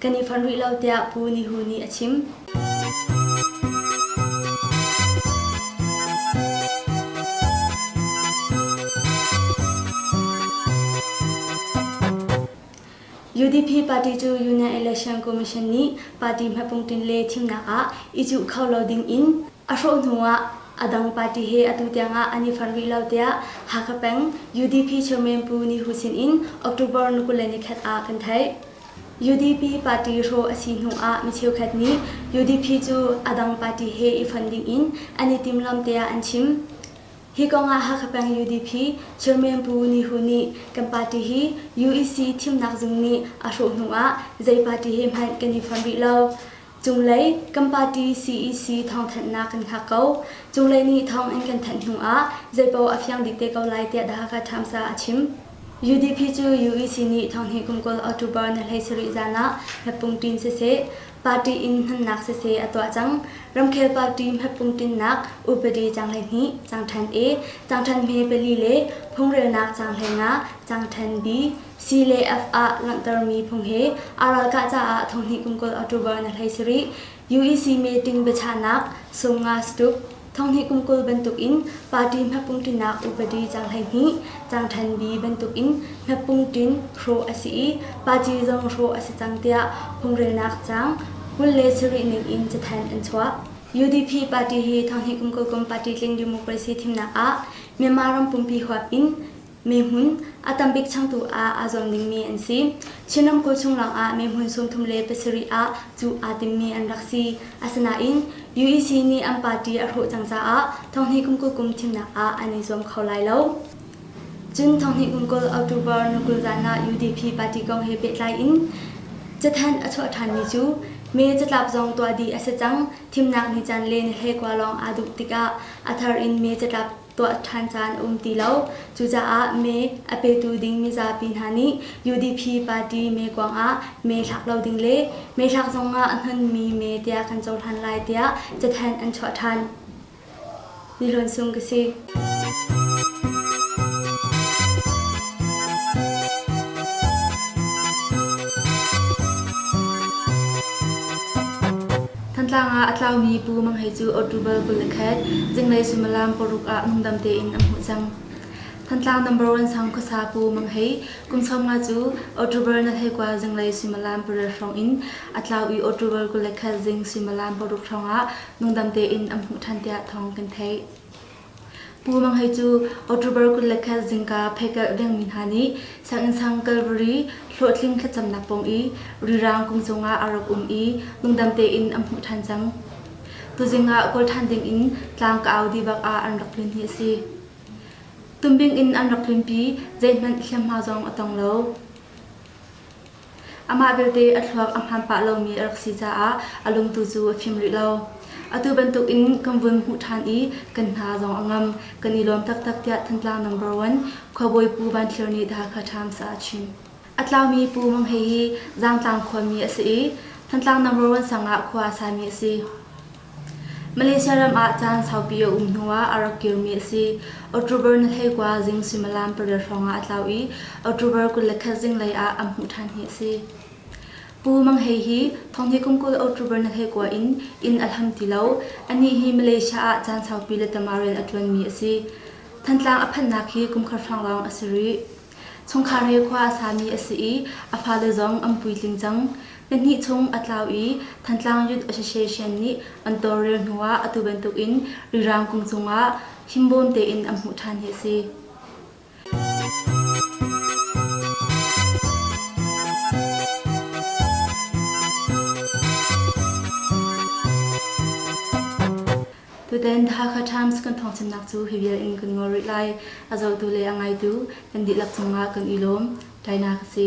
kan i fonh rih lo tiah Pu Ni Hu nih a chim. UDP party cu Union Election Commission nih party hmepung tin le thimnak ah i cuh kho lo ding in a hrawh hnu ah a dang party he atu tiangah an i fonh rih lo tiah Hakha peng UDP chairman Pu Ni Hu sin in October ni kul le ni khat ah kan theih. UDP party hrawh a si hnu ah mi cheukhat nih UDP cu a dang party he i fon dingin an i timlam tiah an chim. Hi kongah Hakha peng UDP Chairman Pu Ni Hu nih kan party hi UEC thimnak zung nih a hrawh hnu ah zei party he hmanh kan i fon rih lo. Cunglei kan party cec thawngthanhnak kan hngak ko. Cunglei nih thawng in kan thanh hnu ah zeipaoh a fiang bik te ko lai tiah The Hakha Times ah a chim. UDP cu UEC nih thonghnih kum kul October ni hlei sarih zan ah hmeppungtin siseh, party in hmannak siseh a tuah cang. Ramkhel party hmeppungtinnak upadi cang hleihnih, cang than A, cang than hme pali le phungrelnak cang hleinga, cang than B, CLAF ah langhtermi phung hi aa ralkah caah thonghnih kum kul October na hlei si rih. UEC meeting biachahnak, sumnga satuk, thonghnih kum kul bantukin party hmepung tinak upadi cang hleihnih, cang than bi bantukin hmepung tin hrawh a si i party zong hrawh a si cang tiah phungrelnak cang kul le sarih ning in cathen an chuah. UDP party hi thonghnih kum kul kum party tling democracy thimnak ah Myanmar ram pumpi huap in Mihmun a tambik changtu ah aa zuam dingmi an si. Chin ramkulh chung lawngah mihmun sumthum le pasarih ah cuh aa timmi an rak si. Asinain UEC nih an party a hrawh cang caah thonghni kum kul kum thimnak ah an i zuam kho lai lo. Cun thonghni kum kul October ni kul zan ah UDP party kong he pehtlai in cathanh a chuah ṭhanmi cu May catlap zong tuah dih a si cang. Thimnak ni caan le ni hlei kua lawng aa duh tikah a thar in May catlap tuah ṭhan caan um ti lo. Cucaah mee a petu ding mizapi hna nih UDP party mee kuang ah mee thlak lo ding le mee thlak zong ah a hmanmi mee tiah kan cohlan lai tiah cathanh an chuah ṭhan. Ni Hlawn Sung ka si. Thantlang ah a tlaumi Pu Mang Hei cu October kul le khat, zinglei suimilam paruk ah ngandam tein an hmuh cang. Thantlang number one sang khuasa Pu Mang Hei, kum sawmnga cu October na hleikua zinglei suimilam pariat hrawng in a tlau i October kul le khat zing suimilam paruk hrawng ah nungdam tein an hmuh ṭhan tiah thawng kan theih. Pu Mang Hei cu October kul le khat zingka pheikalh dengmi hna nih sianginn sang Calvary hlawhtling thlacamnak pawng i rirang kung cungah a rak um i lungdam tein an hmuh ṭhan cang. Tuzing ah kawl ṭhan dingin tlang ka au dibak ah an rak tlun hi a si. Tumbing in an rak tlunpi zeihmanh hliamhma zong a tong lo. Amah belte a thluak a hmaan pah lomi a rak si caah a lungtu cu a fim rih lo. Atu bantukin kan vun hmuh ṭhan i kan hna zong a ngam. Kan i lawm taktak tiah Thantlang number one khuabawi Pu Van Thlir nih The Hakha Times ah a chim. A tlaumi Pu Mang Hei hi Zangtlang khuami a si i Thantlang number one sang ah khua a sami a si. Malaysia ram ah caan saupi a um hnuah a rak kirmi a si. October ni hleikua zing suimilam pariat hrawngah a tlau i October kul le khat zinglei ah an hmuh ṭhan hi a si. Pu Mang Hei hi thonghni kum kul October ni hleikua in inn a hlam ti lo. Anih hi Malaysia ah caan saupi le tamah rian a ṭuanmi a si. Thantlang a phanhnak hi kumkhar hrawng lawng a si rih. Chungkhar he khua a sami a si i a fale zong an puitling cang. Pahnih chung a tlau i Thantlang Youth Association nih an tawlrel hnuah atu bantukin Rirang kung cungah himbawm tein an hmuh ṭhan hi a si. Tutan Hakha Times kan thawngchimnak cu hi vial in kan ngol rih lai. A zohtu le a ngaitu kan dihlak cungah kan i lawm. Tainak a si.